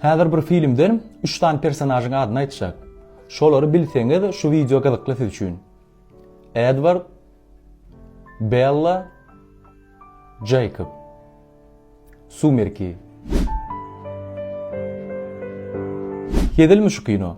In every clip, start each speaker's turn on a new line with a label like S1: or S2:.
S1: Häzir bir filmden üç sany personažyň adyny aýtjak. Şolary bilseňiz şu wideo gyzykly siz üçin. Edward, Bella, Jacob. Sumerki. Hezilmi şu kino?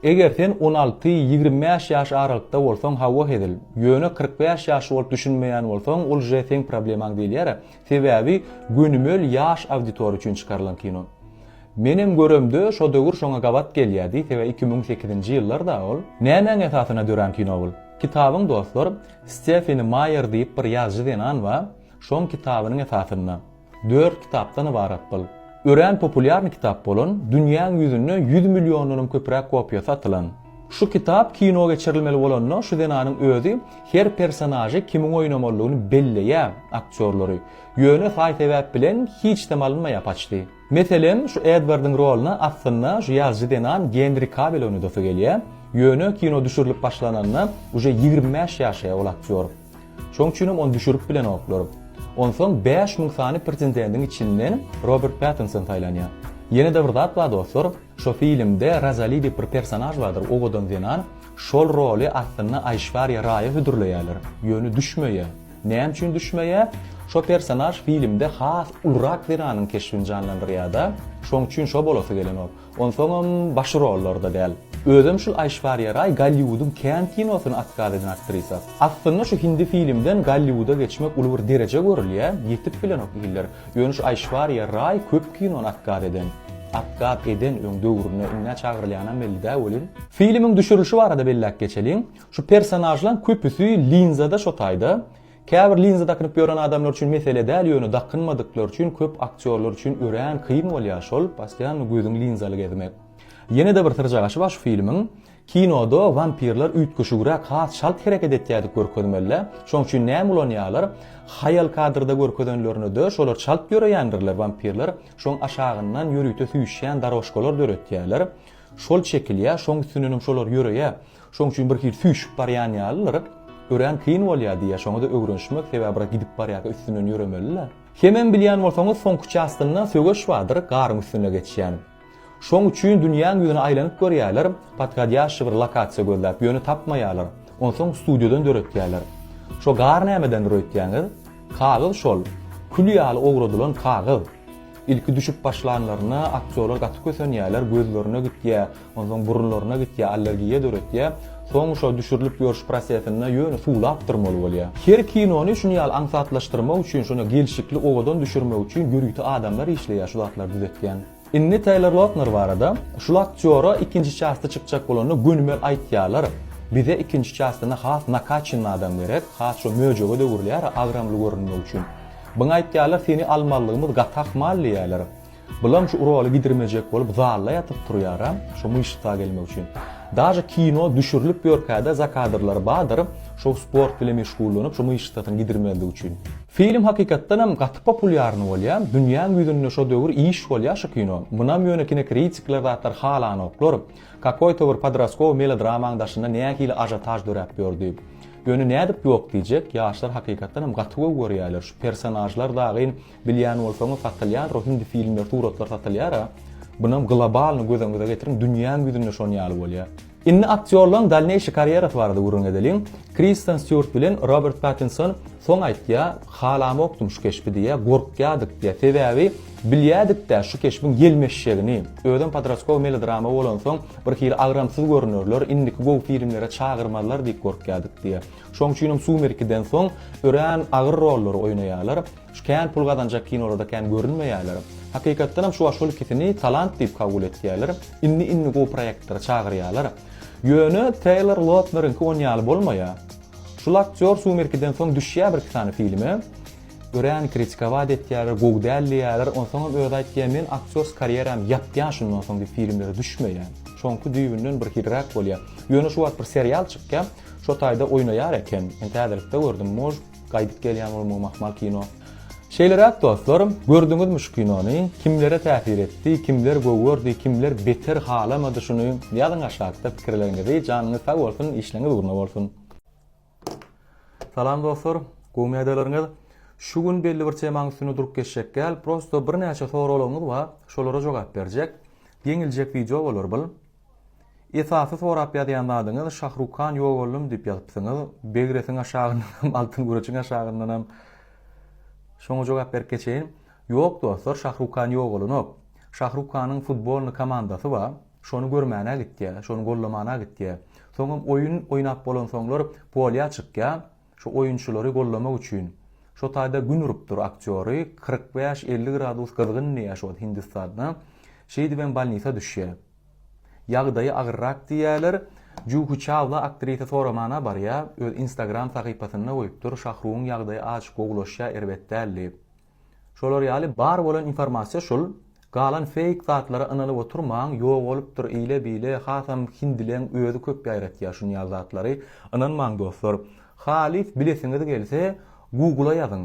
S1: Eger sen on alty, ýigrimi bäş ýaş aralykda bolsaň hawa hezil, ýöne kyrk bäş ýaşly bolup düşünmeýän bolsaň ol je seň problemaň diýilýärä, sebäbi gönümel ýaş auditoriýa üçin çykarylan kino. Menem göremde şo döwür şoňa gabat gelýädi, sebäbi iki müň sekizinji ýyllar-da ol. Nämäň esasyna dörän kino bul? Kitabyň dostlar Stefani Maýer diýip bir ýazyjy zenan ba, şoň kitabynyň esasynda. Dört kitapdan ybarat bul. Örän populýarny kitap bolan, dünýäň ýüzünde ýüz milliondanam köpräk kopiýasy satylan. Şu kitap kino geçirilmeli bolanda şu zenanyň özi her personažy kimin oýnamalydygyny belleýä, aktýorlary, ýöne saý-sebäp bilen hiçdam alynmaýa paçti. Meselem, şu Edwardyň rolyna aslynda şu ýazyjy zenan Gendri Kabel oýnadasy gelýä, ýöne kino düşürilip başlananda uje ýigrimi bäş ýaşä ol aktýor. Şoň üçinem ony düşürip bilenoklar. Onsoň bäş müň sany pretendendiň içinden Robert Pattinson saýlanýar. Ýene-de bir zat bar dostlar, şo filmde Rozali diýip bir personaž bardyr, owadan zenan. Şol roly aslynda Aýşwariýa Raýa hödürleýärler. Ýöne düşmeýär. Näme üçin düşmeýär? Şo personaž filmde has ulurak zenanyň keşbini janlandyrýar-da, şoň üçin şo bolasy gelenok. Onsoňam baş rollarda däl. Özem şul Aýşwariýa Raý Golliwudyň kän kinosyny atkaz eden aktrisa. Aslynda şu hindi filimden Golliwuda geçmek uly bir dereje görülýä, ýetip bilenok hiller. Ýöne şu Aýşwariýa Raý köp kinony atkaz eden. Atkaz eden öň döwründe, indä çagyrylýanam belli-dä welin. Filimiň düşürilişi barada belläp geçeliň. Şu personažlaň köpüsi linzada şo taýda. Käbir linza dakynyp ýören adamlar üçin mesele däl ýöne dakynmadyklary üçin köp aktýorlar üçin örän kyn bolýar şol postoýanno gözüň linzaly gezmek. Ýenede bir syrjagaşy bar şu filmiň kinoda wampirler üýtgeşigräk has çalt hereket etýädip görkezmelidä şoň üçin näme ulanýalar haýal kadrda görkezenlerinede şolar çalt ýöreýändirler wampirler şoň aşagyndan ýörite süýşýän darožkalar döretýäler şol çekilýä şoň üstünenem şolar ýöreýä Şoň üçin bir hili süýşüp barýan ýalylar, örän kyn bolýar diýýär, şoňa-da öwrenişmek, sebäbi biraz gidip barýarka üstünden ýöremeli-le. Hemem bilýän bolsaňyz soňky çastynda söweş bardyr, garyň üstünde geçýän. Şoň üçin dünýäň ýüzüne aýlanyp görýärler, podhodýaşşy bir lokasiýa gözläp, ýöne tapmaýarlar, onsoň studiýadan döretýärler. Şo gar nämedendir öýtýäňiz? Kagyz şol, kül ýaly owradylan kagyz. Ilki düşüp başlanlarynda aktýorlar gaty kösenýärler, gözlerine gitýär, Onsoň burunlaryna gitýär, allergiýa döretýär. Soň şo düşürilip ýörüş prosesinde ýöne suwlap durmaly bolýar. Her kinony şuny ýaly aňsatlaşdyrmak üçin, şonda gelşikli owadan düşürmek üçin ýörite adamlar işleýär şu zatlary düzetýän. Indi Teýlor Lotner barada, Şul aktýora ikinji çasty çykjak bolanda gönümel aýtýarlar, Bize ikinji çastynda has nakaçennyý adam gerek, has şo möjege-de öwrülýär agramly görünmek üçin. Biňe aýtýarlar seni almalygymyz gaty ahmal diýýärler. Bulam şu roly gidirmejek bolup zalda ýatyp turýaram şo myşsa gelmek üçin. Daže kino düşürilip ýörkäde zakadrlary badyr şo sport bile meşgullanyp şo myşsasyny gidirmezlik üçin. Film hakykatdanam gaty populýarny bolýa, dünýäň ýüzünde şo döwür iş bolýa şu kino. Munam ýöne kinokritikler zatlar halanoklar. Kakoýta bir podroskow melodramanyň daşynda nähili ažotaž döräp ýördi. Ýöne nädip ýok diýjek, ýaşlar hakykatdanam gaty gowy görýäler, şu personažlar dagyn Bilýän bolsaňyz satylýanro hindi filmler suratlar satylyara bunam globalny göz öňüňize getiriň dünýäň ýüzünde şon ýaly bolýa. Indi aktýorlaň dalneýşi karýerasy barada gürrüň edeliň. Kristen Stýuart bilen Robert Pattinson soň aýtýa halamokdym şu keşbi diýýä gorkýadyk diýýä sebäbi bilýädikdä şu keşbiň ýelmeşjegini özem podrastkowy melodrama bolansoň bir hili agramsyz görünerler indiki gowy filmlere çagyrmazlar diýip gorkýadyk diýýä şoň üçinem sumerkiden soň örän agyr rollary oýnaýalar Şu kän pul gazanjak kinolarda kän görünmeýärler. Hakykatdanam şuwagt şol ikisini talant diýip kabul etýärler. Indi indi gowy proýektlere çagyrýarlar. Ýöne Teýlor Lotneriňki on ýaly bolmaýar. Şul aktýor Sumerkiden soň düşýär birki sany filme. Örän kritikawaat etýärler, gowy däl diýýärler. Onsoňam özi aýtýar, men aktýors karýeram ýapýan şundan soň diýip filmlere düşmeýän. Şoňky düýbünden bir hiliräk bolýar. Ýöne şuwagt bir serial çykýar. Şo taýda oýnaýar eken. Men täzelikde gördüm. Mož. Gaýdyp gelýän bolmagy mahmal kino. Şeýleräk dostlarym, gördüňizmi şu kinony, kimlere täsir etdi, kimler gowy gördi, kimler beter halamady şuny ýazyň aşakda pikirleriňizi, janyňyz sag bolsun, işleňiz ugruna bolsun. Salam dostlar, gowmy ýagdaýlaryňyz? Şu gün belli bir temaň üstünde durup geçjek däl, prosto birnäçe soraglaryňyz bar, şolara jogap berjek, geňiljek wideo bolar bul. Esasy sorap ýazýan zadyňyz Şahruk Khan ýok ollum diýip ýazypsyňyz. Begresiň aşagyndan hem Altyn Güreçiň aşagyndan hem şoňa jogap berip geçeýin. Ýok dostlar Şahruk Khan ýok olanok. Şahruk Khanyň futbolny komandasy bar. Şony görmäne gitýä, şony gollamana gitýä. Soňam oýun oýnap bolansoňlar polýa çykýa. Şu oýunçylary gollamak üçin şo taýda gün urup dur aktýory kyrk bäş elli gradus gyzgyn diýýä şo hindistanda şeýdibem balnisa düşýä ýagdaýy agyrrak diýýäler juhi çawla aktrisa soramana barýa öz instagram sahypasynda goýupdyr şahrugyň ýagdaýy azjyk gowulaşýa erbet däl diýip. Şolar ýaly bar bolan informasiýa şul, galan feýk zatlara ynalyp oturmaň, ýok bolupdyr ile bile, hasam hindileň özi köp ýaýratýar şunýaly zatlary, ynanmaň dostlar. Halys bilesiňiz gelse Google-a ýazyň.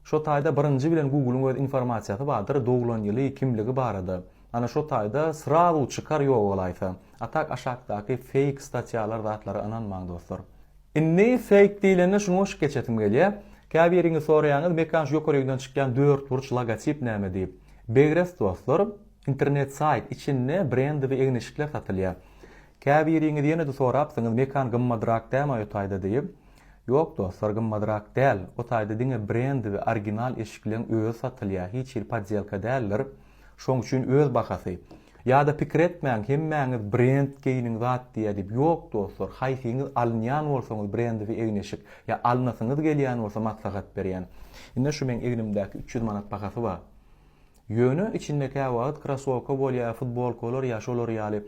S1: Şo taýda birinji bilen Google-yň öz informasiýasy bardyr, doglan ýyly, kimligi barada. Ana şo taýda srazu çykar ýok bolaýsa. A tak aşakdaky feýk statýalar zatlara ynanmaň dostlar. Indi Fake diýlende şuny goşup geçesim gelýär. Käbiriňiz soraýaňyz Mekan şu ýokary ýüňden çykýan dörtburç logotip näme diýip. Begres dostlar, internet saýt, içinde brendiwi egniçikler satylýar. Käbiriňiz ýene-de sorapsyňyz Mekan gymmadrak dämi aý o taýda diýip. Ýok dostlar gymmadrak däl, o taýda diňe brendiwi original eşikleň özi satylýar, hiç hili podýelka däldir. Şoň üçin öz bahasy. Ýada pikir etmäň hemmäňiz brend geýniň zat diýýä diýip ýok dostlar haýsyňyz alynýan bolsaňyz brendiwi egneşik ýa alynasyňyz gelýän bolsa maslahat berýän ine şu meň egnimdäki üç ýüz manat bahasy bar ýöne içinde käwagt krasowka bolýa futbolkalar ýa şolar ýaly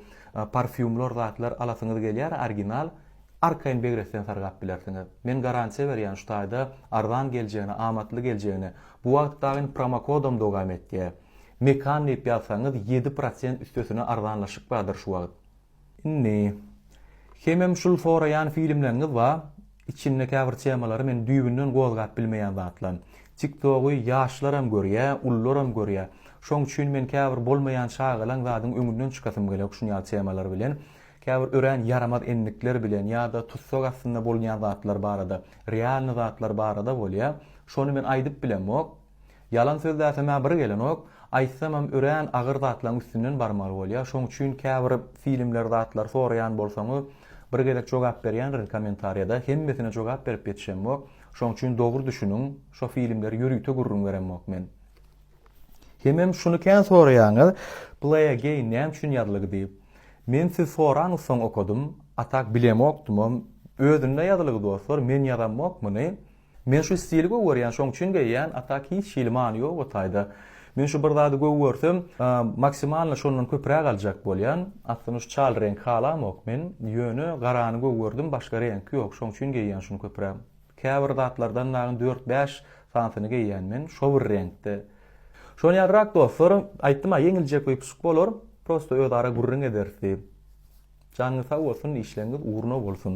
S1: parfýumlar zatlar alasyňyz gelýär orginal arkaýyn begresden sargap bilersiňiz men garantiýa berýän şu taýda arzan geljegine amatly geljegine bu wagt dagyn promokodam dogam etýä Mekan diýip ýazsaňyz ýedi prosent üstesine arzanlaşyk bardyr şu wagt. Indi. Hemem şul soraýan filmleriňiz ba, içinde käbir temalary men düýbünden gozgap bilmeýän zatlan. Tiktogy ýaşlaram görýä, ullaram görýä. Şoň üçin men käbir bolmaýan çagalaň zadyň öňünden çykasym gelok şun ýaly temalar bilen. Käbir örän ýaramaz endikler bilen ýada tussag astynda bolunýan zatlar barada, realny zatlar barada bolýa. Şony men aýdyp bilemok. Ýalan sözläsem-ä bir gelenok, aýtsamam örän agyr zatlaň üstünden barmaly bolýa, şoň üçin käbir filmler zatlar soraýan bolsaňyz bir gezek jogap berýändirin kommentariýada, hemmesine jogap berip ýetişemok, şoň üçin dogry düşüniň, şo filmleri ýörite gürrüň beremok men. Hemem şuny kän soraýaňyz, Play Again näme üçin ýazlygy diýip. Men siz soraňyz soň okadym, a tak bilemokdymam, özünde ýazylygy dostlar, men ýazammok muny. Men şu stili gowy görýän, şoň üçin geýýän, a tak hiç hili many ýok o taýda. Men şu bir zady gowy görsem, maksimalno şondan köpräk aljak bolýan. Aslynda şu çal reňki halamok men, ýöne garany gowy gördüm, başga reňki ýok, şoň üçin geýýän şuny köpräk. Käbir zatlardan dagyň dört-bäş sanysyny geýýän men, şo bir reňkde. Şony ýazrak dostlar, aýtdym-a ýeňiljek wypysk bolar, prosto özara gürrüň ederis diýip. Janyňyz sag bolsun, işleriňiz ugruna bolsun.